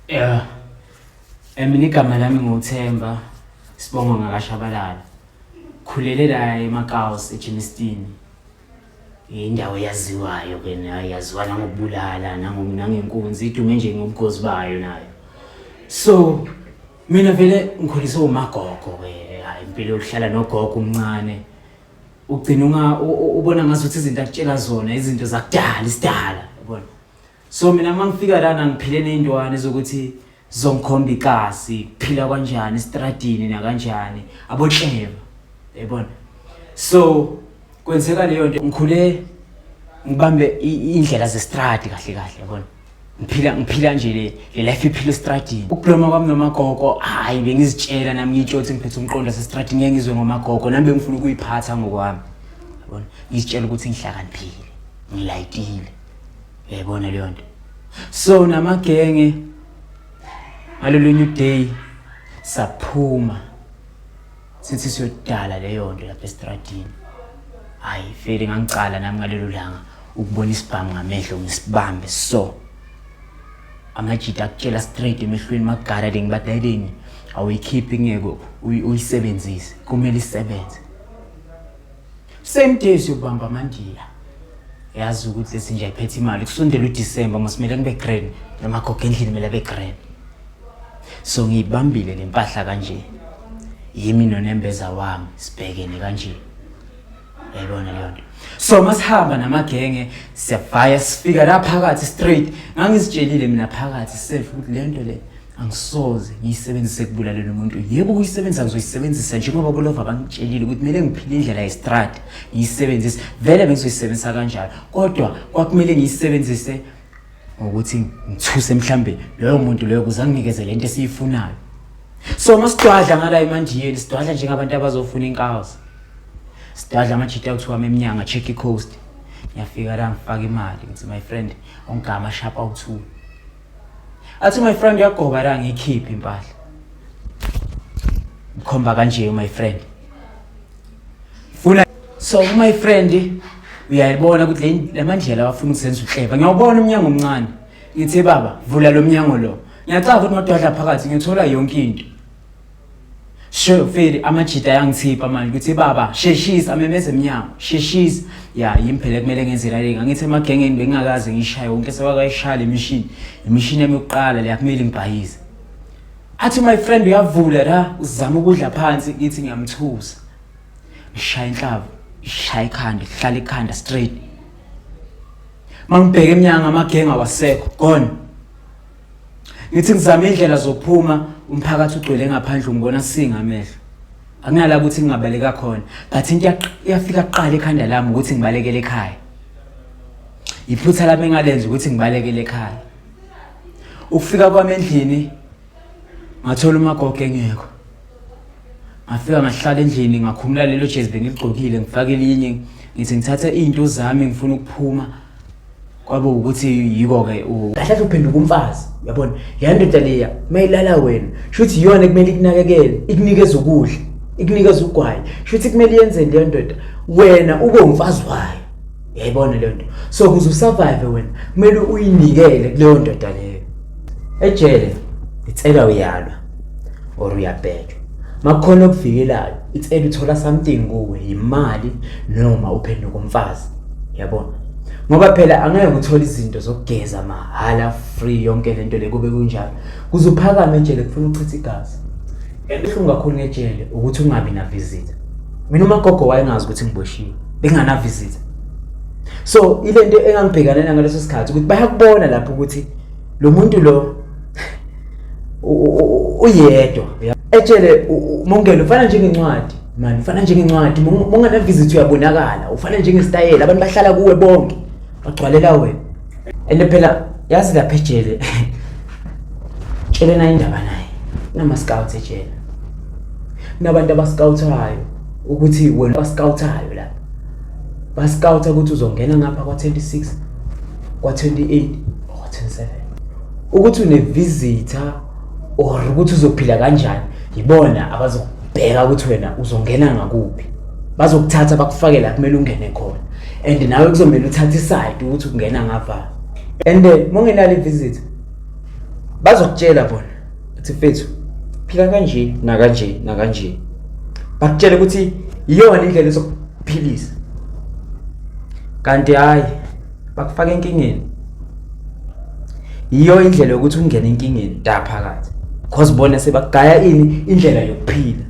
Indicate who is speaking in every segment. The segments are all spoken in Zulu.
Speaker 1: Yeah. Mina igama lami nguThemba Sibongo ngakashabalala. Khulele la eMakaos eGenestini. Indawo yaziwayo ke nayo yaziwa nangokubulala nangenkunzi idume nje ngobugozi bayo nayo. So mina vele ngikhuliswe umagogo ke hayi impilo yokuhlala nogogo umncane. Ugcina unga ubona ngazuthi izinto akutshela zona izinto zakudala isidala yabona. so mina uma ngifika lana ngiphile ney'ntwane zokuthi zongikhomba icasi kuphila kwanjani esitradini nakanjani abotleva yayibona so kwenzeka leyo nto ngikhule ngibambe iy'ndlela zestradi kahle kahle yabona ngiphila ngiphila nje le le life iphila estradini ukubloma kwami nomagogo hhayi bengizitshela nami ngiyitshothi ngiphethe umqondo asestradini ngeke ngizwe ngomagogo nami bengifuna ukuyiphatha ngokwami yabona ngizitshela ukuthi ngihlakaniphile ngilayitile Uyayibona leyo nto. So namagenge ngalolunye uday saphuma sithi siyodala leyo nto lapha estradini. Hayi vele ngangicala nami ngalelo langa ukubona isibhamu ngamehlo ngisibambe so. Amajita akutshela straight emehlweni magara le ngibadayeleni awuyikhiphi ngeke uyisebenzise kumele isebenze. same day siyobamba amandiya yazi ukuthi esinje ayiphethe imali kusondela udisemba masimele kube grand namagogo endlini kumele abe grand so ngiyibambile le mpahla kanje yimi nonembeza wami sibhekene kanje yayibona leyo nto so masihamba namagenge siyabhaya sifika la phakathi straight ngangizitshelile mina phakathi safe ukuthi le nto le angisoze ngiyisebenzise ekubulalela umuntu yebo ukuyisebenzisa ngizoyisebenzisa njengoba bolova bangitshelile ukuthi kumele ngiphile indlela yestrada ngiyisebenzise vele bengizoyisebenzisa kanjalo kodwa kwakumele ngiyisebenzise ngokuthi ngithuse mhlambe loyo muntu loyo kuze anginikeze le nto esiyifunayo so uma sidwadla ngala emanjiyeni sidwadla njengabantu abazofuna inkazi sidwadla amajita kuthiwa memnyanga check i coast ngiyafika la ngifaka imali ngithi my friend ongigama shapa uthule athi my friend uyagoba la ngiyikhiphe impahla mkhomba kanje my friend funa so my friend uyayibona ukuthi lamandlela wafuna ukuzenza uhleba ngiyawubona umnyango omncane ngithe baba vula lo mnyango lo ngiyacaba ukuthi nodwadla phakathi ngithola yonke into Sure mfeli amajita ayangithipha manje ukuthi baba sheshisa amemeze emnyango sheshisa ya yimi phela kumele ngenze lale ngangithe emagengeni bengingakaze ngishaye wonke sewakayishaya le mishini imishini yami yokuqala leya kumele ngibhayize athi my friend uyavula la uzama ukudla phansi ngithi ngiyamthusa ngishaya inhlava ishaya ikhanda ihlala ikhanda straight mangibheke emnyango amagenge awasekho gone Ngithi ngizama indlela zokuphuma umphakathi ugcwele ngaphandle ungibona singa amehlo. Akunala ukuthi ngingabaleka khona, but into iyafika kuqala ekhanda lami ukuthi ngibalekele ekhaya. Iphutha lami engalenza ukuthi ngibalekele ekhaya. Ukufika kwami endlini ngathola umagogo engekho. Ngafika ngahlala endlini ngakhumula lelo jezi bengigqokile ngifake elinye ngithi ngithatha izinto zami ngifuna ukuphuma kwabo ukuthi yiko-ke kahlahle uphenduka umfazi uyabona leya ndoda leya uma ilala wena shuthi iyona kumele ikunakekele ikunikeza ukudla ikunikeza ugwayi shuthi kumele yenzeni leyo ndoda wena ube umfazi wayo yayibona leyo nto so kuze usurvive wena kumele uyinikele kuleyo ndoda leyo ejele ngicela uyalwa or uyabhejwa makukhona okuvikelayo it's either uthola something kuwe imali noma uphenduka umfazi yabona ngoba phela angeke uthole izinto zokugeza mahhala free yonke lento le kube kunjalo kuze uphakame ejele kufuna uchitha igazi ebuhlungu kakhulu ngejele ukuthi ungabi na visitor mina umagogo wayengazi ukuthi ngiboshiwe bengana visitor so ilento engangibhekana nayo ngaleso sikhathi ukuthi bayakubona lapho ukuthi lo muntu lo uyedwa etshele mongelo ufana njengencwadi mani ufana njengencwadi mongana visit uyabonakala ufana njengestayela abantu bahlala kuwe bonke bagcwalela wena and phela yazi lapha ejele tshelena indaba naye kunama-scouts ejele kunabantu abascouthayo ukuthi wena bascouthayo lapha Basikawutha ukuthi uzongena ngapha kwa-26, kwa-28 or kwa-27. Ukuthi unevisitor or ukuthi uzophila kanjani yibona abazokubheka ukuthi wena uzongena ngakuphi. Bazokuthatha bakufake la kumele ungene khona and nawe kuzomele uthathe isayidi ukuthi ungena ngavalo. And eh, uma ungenalo ivisitor
Speaker 2: bazokutshela bona Athi mfethu phila kanje nakanje nakanje. Bakutshela ukuthi iyona indlela sokuphilisa. Kanti hayi bakufaka enkingeni. Iyo indlela yokuthi ungene enkingeni da phakathi. Cause bona sebagaya ini indlela yokuphila.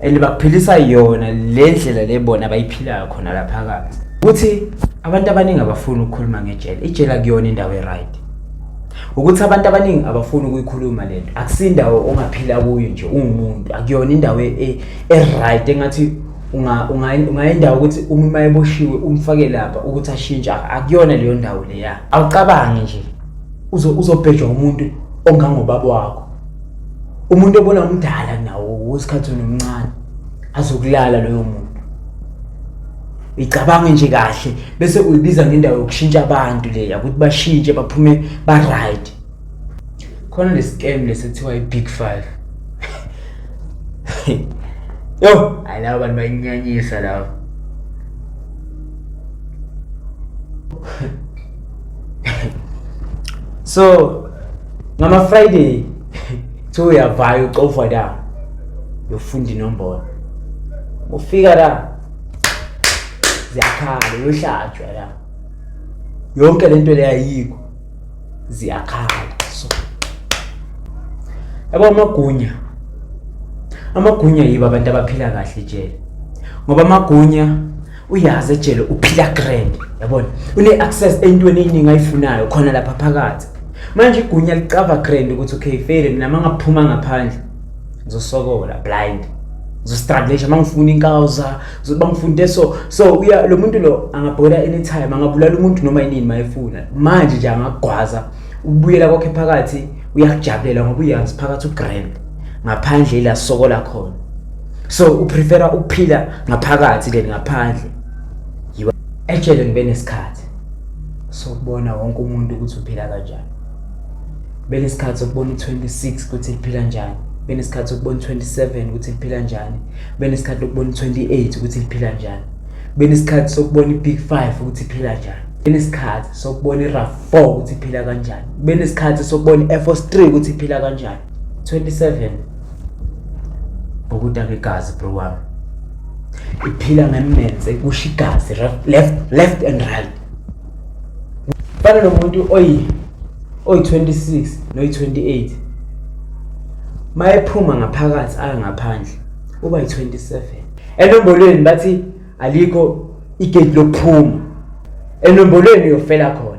Speaker 2: and bakuphilisa yona le ndlela le bona abayiphilayo khona la phakathi ukuthi abantu abaningi abafuni ukukhuluma ngejele ijele akuyona indawo e-right ukuthi abantu abaningi abafuni ukuyikhuluma le nto akusindawo ongaphila kuyo nje ungumuntu akuyona indawo e, e, e-right engathi ungayindawo ukuthi uma uma eboshiwe umfake lapha ukuthi ashintshe akuyona leyo ndawo leya awucabangi nje uzobhejwa umuntu ongangobaba wakho umuntu obona umdala nawo wesikhathi nomncane azokulala loyo muntu icabange nje kahle bese uyibiza ngendawo yokushintsha abantu leya ukuthi bashintshe baphume ba right khona le scam lesethiwa i big 5 yo alaba bantu bayinyanyisa laba so ngama friday kuthiwa uyavaya ucofwa la yofunda inombolo ufika la ziyakhala uyohlatshwa la yonke le nto leyayikho ziyakhala so yabo amagunya amagunya yibo abantu abaphila kahle jele ngoba amagunya uyazi ejele uphila grand yabona une-access entweni eyiningi ayifunayo khona lapha phakathi manje igunya licava grand ukuthi okay fele mina ma ngaphuma ngaphandle ngizosokola blind ngizostruglisha ma ngifuna inkawuza ngizoba ngifuna into eso so uya lo muntu lo angabhola anytime angabulala umuntu noma yinini ma efuna manje nje angagwaza ukubuyela kwakhe phakathi uyakujabulela ngoba uyazi phakathi ugrand ngaphandle ila sokola khona so uprefera ukuphila ngaphakathi than ngaphandle yiwa actually ngibe nesikhathi sokubona wonke umuntu ukuthi uphila kanjani bene isikhathi sokubona u26 ukuthi liphila njani bene isikhathi sokubona u27 ukuthi liphila njani bene isikhathi sokubona u28 ukuthi liphila njani bene isikhathi sokubona ibig 5 ukuthi iphila njani bene isikhathi sokubona iraf 4 ukuthi iphila kanjani bene isikhathi sokubona i-air force 3 ukuthi iphila kanjani 27 Ukudaka igazi bro wami. Iphila ngemmenze kusho igazi left left and right. Fana nomuntu oyi oyi 26 noyi 28. Mayephuma ngaphakathi aya ngaphandle uba yi 27. Enombolweni bathi alikho igate lokuphuma. Enombolweni uyofela khona.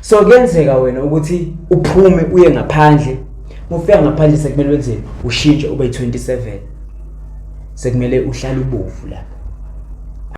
Speaker 2: so kuyenzeka wena ukuthi uphume uye ngaphandle mufika ngaphandle sekumele wenzeni ushintshe ube 27 sekumele uhlale ubovu lapho